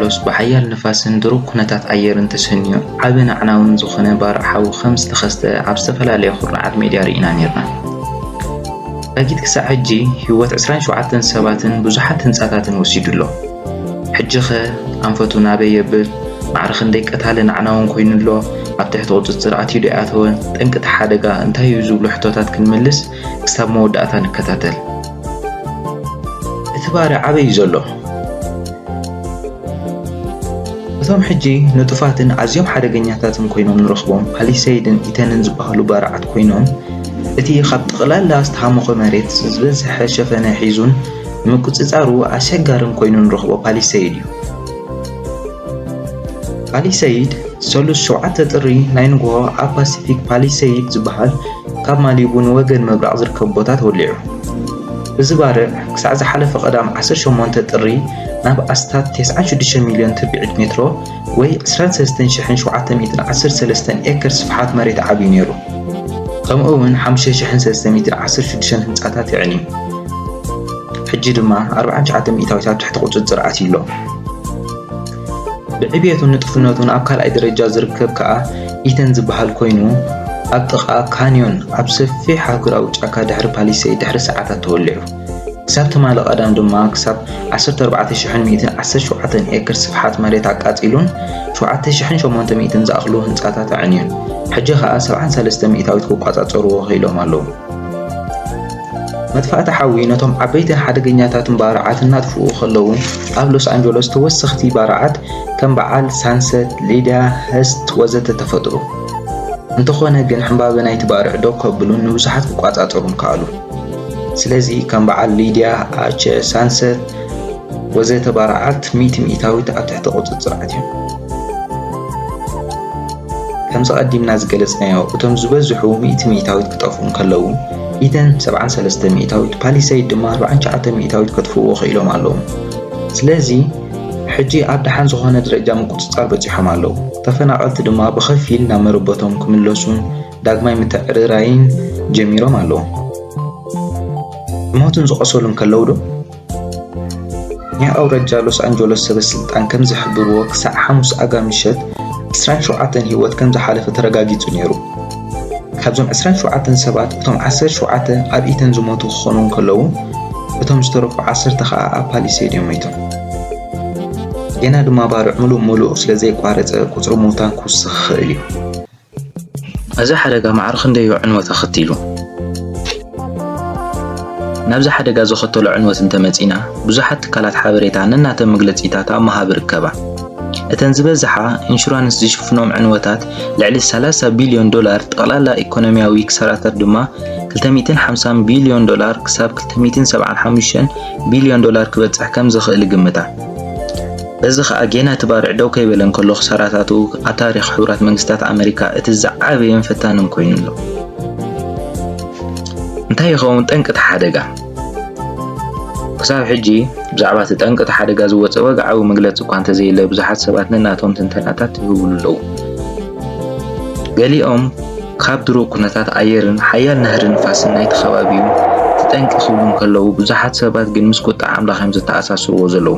ሎስ ብሓያል ንፋስን ድሩብ ኩነታት ኣየርን ተሰንዩ ዓቢ ናዕናውን ዝኾነ ባርዕ ሓዊ ከም ዝተኸስተ ኣብ ዝተፈላለየ ኩርናዓት ሜድያ ርኢና ነርና። ዛጊት ክሳዕ ሕጂ ህይወት 27 ሰባትን ብዙሓት ህንጻታትን ወሲዱ ኣሎ። ሕጂኸ ኣንፈቱ ናበይ የብል? ማዕረ ክንደይ ቀታልን ኣዕናውን ኮይኑ ኣሎ? ኣብ ትሕቲ ቁጽጽር ኣትዩ ዶ ኣይኣተወ? ጠንቂ እቲ ሓደጋ እንታይ እዩ? ዝብሉ ሕቶታት ክንምልስ ክሳብ መወዳእታ ንከታተል። እቲ ባርያ ኣበይ እዩ ዘሎ? እቶም ሕጂ ንጡፋትን ኣዝዮም ሓደገኛታትን ኮይኖም ንረኽቦም ፓሊሰይድን ኢተንን ዝበሃሉ ባርዓት ኮይኖም፣ እቲ ካብ ጠቕላላ ዝተሃሞኸ መሬት ዝበዝሐ ሸፈነ ሒዙን፣ ንምቁጽጻሩ ኣሸጋርን ኮይኑ ንረኽቦ ፓሊሰይድ እዩ። ፓሊሰይድ፣ ሰሉስ ሸውዓተ ጥሪ ናይ ንግሆ ኣብ ፓሲፊክ ፓሊሰይድ ዝበሃል ካብ ማሊቡ ንወገን ምብራቕ ዝርከብ ቦታ ተወሊዑ። እዚ ባርዕ ክሳዕ ዝሓለፈ ቀዳም ዓሰርተ ሸሞንተ ጥሪ ናብ ኣስታት ተስዓን ሽዱሽተን ሚልዮን ትርብዒት ሜትሮ ወይ ዕስራን ሰለስተን ሽሕን ሸውዓተ ሚእትን ዓሰርተ ሰለስተን ኤከር ስፍሓት መሬት ዓብዩ ነይሩ። ከምኡ እውን ሓሙሽተ ሽሕን ሰለስተ ሚእትን ዓሰርተ ሽዱሽተን ህንጻታት የዕንዩ። ሕጂ ድማ ኣርብዓን ትሽዓተ ሚእታዊት ኣብ ትሕቲ ቁጽጽር ኣትዩ ኣሎ። ብዕብየቱን ንጡፍነቱን ኣብ ካልኣይ ደረጃ ዝርከብ ከኣ ኢተን ዝበሃል ኮይኑ ኣብ ጥቓ ካንዮን ኣብ ሰፊሕ ኣህጉራዊ ጫካ ድሕሪ ፓሊሰይድ ድሕሪ ሰዓታት ተወሊዑ። ክሳብ ትማሊ ቀዳም ድማ ክሳብ ዓሰርተ ኣርባዕተ ሽሕን ሚእትን ዓሰርተ ሸውዓተን ኤክር ስፍሓት መሬት ኣቃጺሉን ሸውዓተ ሽሕን ሸሞንተ ሚእትን ዝኣኽሉ ህንጻታት ኣዕንዩን ሕጂ ከኣ ሰብዓን ሰለስተ ሚእታዊት ክቋጻጸርዎ ክኢሎም ኣለዉ። መጥፋእቲ ሓዊ ነቶም ዓበይትን ሓደገኛታትን ባርዓት እናጥፍኡ ከለዉ ኣብ ሎስ ኣንጀሎስ ተወሰኽቲ ባርዓት ከም በዓል ሳንሰት፣ ሊድያ፣ ህስት ወዘተ ተፈጥሩ። እንተኾነ ግን ሕምባበ ናይቲ ባርዕ ደው ከብሉን ንብዙሓት ክቋጻጸሩን ከኣሉ። ስለዚ ከም በዓል ሊድያ፣ ኣቸ፣ ሳንሰት ወዘተ ባርዓት ሚእቲ ሚእታዊት ኣብ ትሕቲ ቁጽጽር ኣትዮም። ከምዚ ቀዲምና ዝገለጽናዮ እቶም ዝበዝሑ ሚእቲ ሚእታዊት ክጠፍኡ እንከለዉ፣ ኢተን ሰብዓን ሰለስተ ሚእታዊት፣ ፓሊሰይድ ድማ ኣርብዓን ትሽዓተን ሚእታዊት ከጥፍእዎ ክኢሎም ኣለዉ። ስለዚ ሕጂ ኣብ ደሓን ዝኾነ ደረጃ ምቁጽጻር በጺሖም ኣለዉ። ተፈናቐልቲ ድማ ብኸፊል ናብ መረበቶም ክምለሱን ዳግማይ ምትዕርራይን ጀሚሮም ኣለዉ። ዝሞቱን ዝቖሰሉን ከለዉ ዶ? ናይ ኣውራጃ ሎስ ኣንጀሎስ ሰበ ስልጣን ከም ዝሕብርዎ ክሳዕ ሓሙስ ኣጋ ምሸት ዕስራን ሸውዓተን ህይወት ከም ዝሓለፈ ተረጋጊጹ ነይሩ። ካብዞም ዕስራን ሸውዓተን ሰባት እቶም ዓሰርተ ሸውዓተ ኣብ ኢተን ዝሞቱ ክኾኑ እንከለዉ እቶም ዝተረፉ ዓሰርተ ከኣ ኣብ ፓሊሴድ እዮም ሞይቶም። ጌና ድማ ባርዕ ምሉእ ምሉእ ስለ ዘይቋረጸ ቁጽሪ ምዉታን ክውስኽ ይኽእል እዩ። እዚ ሓደጋ ማዕረ ክንደዮ ዕንወት ኣኸቲሉ? ናብዚ ሓደጋ ዘኸተሎ ዕንወት እንተመጺእና፣ ብዙሓት ትካላት ሓበሬታ ነናተን መግለጺታት ኣብ ምሃብ ይርከባ። እተን ዝበዝሓ ኢንሹራንስ ዝሽፍኖም ዕንወታት ልዕሊ ሰላሳ ቢልዮን ዶላር፣ ጠቕላላ ኢኮኖሚያዊ ክሳራታት ድማ ክልተ ሚእትን ሓምሳን ቢልዮን ዶላር ክሳብ ክልተ ሚእትን ሰብዓን ሓሙሽተን ቢልዮን ዶላር ክበጽሕ ከም ዝኽእል ይግምታ። እዚ ኸኣ ጌና እቲ ባርዕ ደው ከይበለ እንከሎ ክሳራታቱ ኣብ ታሪኽ ሕቡራት መንግስታት ኣመሪካ እቲ ዝዓበየን ፈታንን ኮይኑ ኣሎ። እንታይ ይኸውን ጠንቂ እቲ ሓደጋ? ክሳብ ሕጂ ብዛዕባ እቲ ጠንቂ እቲ ሓደጋ ዝወጸ ወግዓዊ መግለጺ እኳ እንተዘየለ ብዙሓት ሰባት ነናቶም ትንተናታት ይህብሉ ኣለዉ። ገሊኦም ካብ ድሩቕ ኩነታት ኣየርን ሓያል ናህሪ ንፋስን ናይቲ ከባቢ'ዩ እቲ ጠንቂ ክብሉ እንከለዉ ብዙሓት ሰባት ግን ምስ ቁጥዐ ኣምላኽ እዮም ዘተኣሳስርዎ ዘለዉ።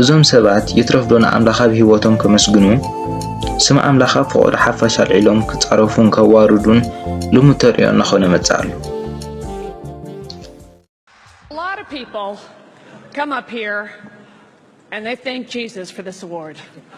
እዞም ሰባት ይትረፍ ዶ ንኣምላኽ ኣብ ህይወቶም ከመስግኑ፣ ስም ኣምላኽ ኣብ ፍቖዶ ሓፋሽ ኣልዒሎም ክጻረፉን ከዋርዱን ልሙድ ተርእዮ እናኾነ መጸ ኣሎ።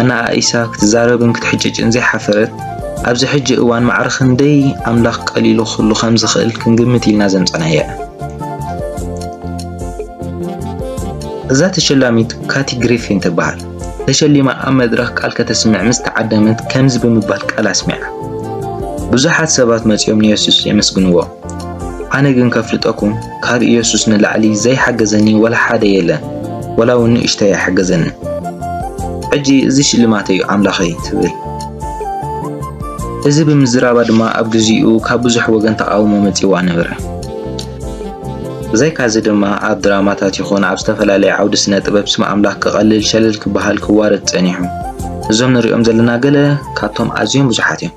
ኣነኣኢሳ ክትዛረብን ክትሕጭጭን ዘይሓፈረት፣ ኣብዚ ሕጂ እዋን ማዕረ ክንደይ ኣምላኽ ቀሊሉ ክህሉ ከም ዝኽእል ክንግምት ኢልና ዘምጸናያ እያ። እዛ ተሸላሚት ካቲ ግሪፊን ትበሃል። ተሸሊማ ኣብ መድረኽ ቃል ከተስምዕ ምስ ተዓደመት ከምዚ ብምባል ቃል ኣስሚዓ፣ ብዙሓት ሰባት መጺኦም ንየሱስ የመስግንዎ። ኣነ ግን ከፍልጠኩም ካብ ኢየሱስ ንላዕሊ ዘይሓገዘኒ ወላ ሓደ የለን ወላ ውን ንእሽተይ ኣይሓገዘንን ሕጂ እዚ ሽልማተይ ዩ ኣምላኸይ ትብል እዚ ብምዝራባ ድማ ኣብ ግዚኡ ካብ ብዙሕ ወገን ተቓውሞ መጺዋ ነበረ ብዘይካዚ ድማ ኣብ ድራማታት ይኹን ኣብ ዝተፈላለየ ዓውዲ ስነ ጥበብ ስም ኣምላኽ ክቐልል ሸለል ክበሃል ክዋረድ ጸኒሑ እዞም ንሪኦም ዘለና ገለ ካብቶም ኣዝዮም ብዙሓት እዮም።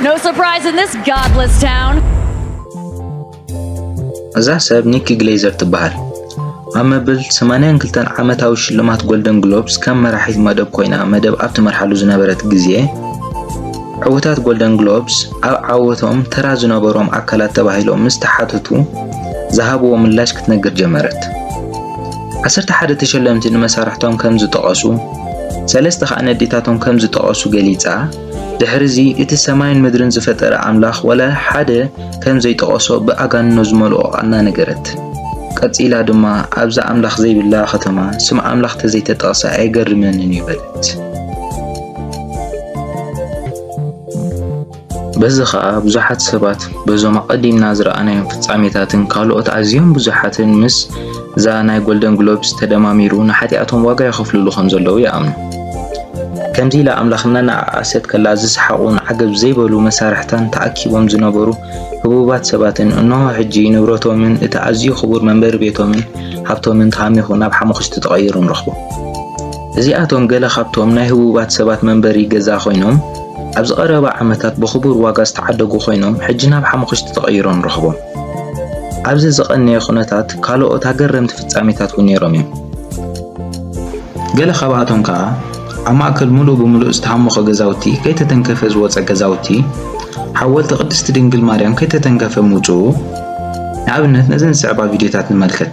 No surprise in this godless town. እዛ ሰብ ኒኪ ግሌዘር ትበሃል። ኣብ መበል 82 ዓመታዊ ሽልማት ጎልደን ግሎብስ ከም መራሒት መደብ ኮይና መደብ ኣብ ትመርሓሉ ዝነበረት ግዜ፣ ዕውታት ጎልደን ግሎብስ ኣብ ዓወቶም ተራ ዝነበሮም ኣካላት ተባሂሎም ምስ ተሓተቱ ዝሃብዎ ምላሽ ክትነግር ጀመረት። ዓሰርተ ሓደ ተሸለምቲ ንመሳርሕቶም ከም ዝጠቐሱ፣ ሰለስተ ከኣ ነዴታቶም ከም ዝጠቐሱ ገሊጻ። ድሕርዚ እቲ ሰማይን ምድርን ዝፈጠረ ኣምላኽ ዋላ ሓደ ከም ዘይጠቐሶ ብኣጋንኖ ዝመልኦ ቓና ነገረት። ቀጺላ ድማ ኣብዛ ኣምላኽ ዘይብላ ከተማ ስም ኣምላኽ ተዘይተጠቕሰ ኣይገርመንን እዩ በለት። በዚ ኸኣ ብዙሓት ሰባት በዞም ኣቐዲምና ዝረኣናዮም ፍጻሜታትን ካልኦት ኣዝዮም ብዙሓትን ምስ እዛ ናይ ጎልደን ግሎብስ ተደማሚሩ ንሓጢኣቶም ዋጋ የኸፍልሉ ከም ዘለዉ ይኣምኑ። ከምዚ ኢላ ኣምላኽ እናነኣኣሰት ከላ ዝሰሓቑን ዓገብ ዘይበሉ መሳርሕታን ተኣኪቦም ዝነበሩ ህቡባት ሰባትን እንሆ ሕጂ ንብረቶምን እቲ ኣዝዩ ክቡር መንበሪ ቤቶምን ሃብቶምን ተሃሚኹ ናብ ሓሙኽሽቲ ተቐይሩ ንረኽቦ። እዚኣቶም ገለ ካብቶም ናይ ህቡባት ሰባት መንበሪ ገዛ ኮይኖም ኣብዚ ቀረባ ዓመታት ብኽቡር ዋጋ ዝተዓደጉ ኮይኖም ሕጂ ናብ ሓሙኽሽቲ ተቐይሮም ንረኽቦም። ኣብዚ ዝቐነየ ዅነታት ካልኦት ኣገረምቲ ፍጻሜታት እውን ነይሮም እዮም። ገለ ካብኣቶም ከኣ ኣብ ማእከል ምሉእ ብምሉእ ዝተሃሞኸ ገዛውቲ ከይተተንከፈ ዝወጸ ገዛውቲ ሓወልቲ ቅድስቲ ድንግል ማርያም ከይተተንከፈ ምውጽኡ ንኣብነት ነዘን ዝስዕባ ቪድዮታት ንመልከት።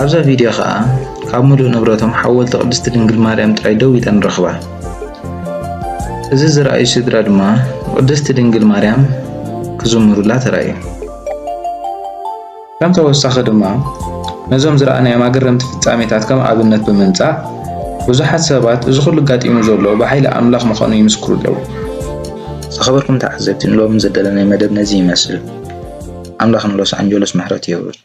ኣብዛ ቪድዮ ከኣ ካብ ምሉእ ንብረቶም ሓወልቲ ቅድስቲ ድንግል ማርያም ጥራይ ደው ኢለን ንረኽባ። እዚ ዝረኣዩ ስድራ ድማ ንቅድስቲ ድንግል ማርያም ክዝምሩላ ተራእዩ። ከም ተወሳኺ ድማ ነዞም ዝረኣናዮም ኣገረምቲ ፍጻሜታት ከም ኣብነት ብምምጻእ ብዙሓት ሰባት እዚ ኩሉ ኣጋጢሙ ዘሎ ብሓይሊ ኣምላኽ ምዃኑ ይምስክሩ ኣለዉ። ዝኸበርኩም ተዓዘብቲ ንሎሚ ዝደለናይ መደብ ነዚ ይመስል። ኣምላኽ ንሎስ ኣንጀሎስ ምሕረቱ የውርድ።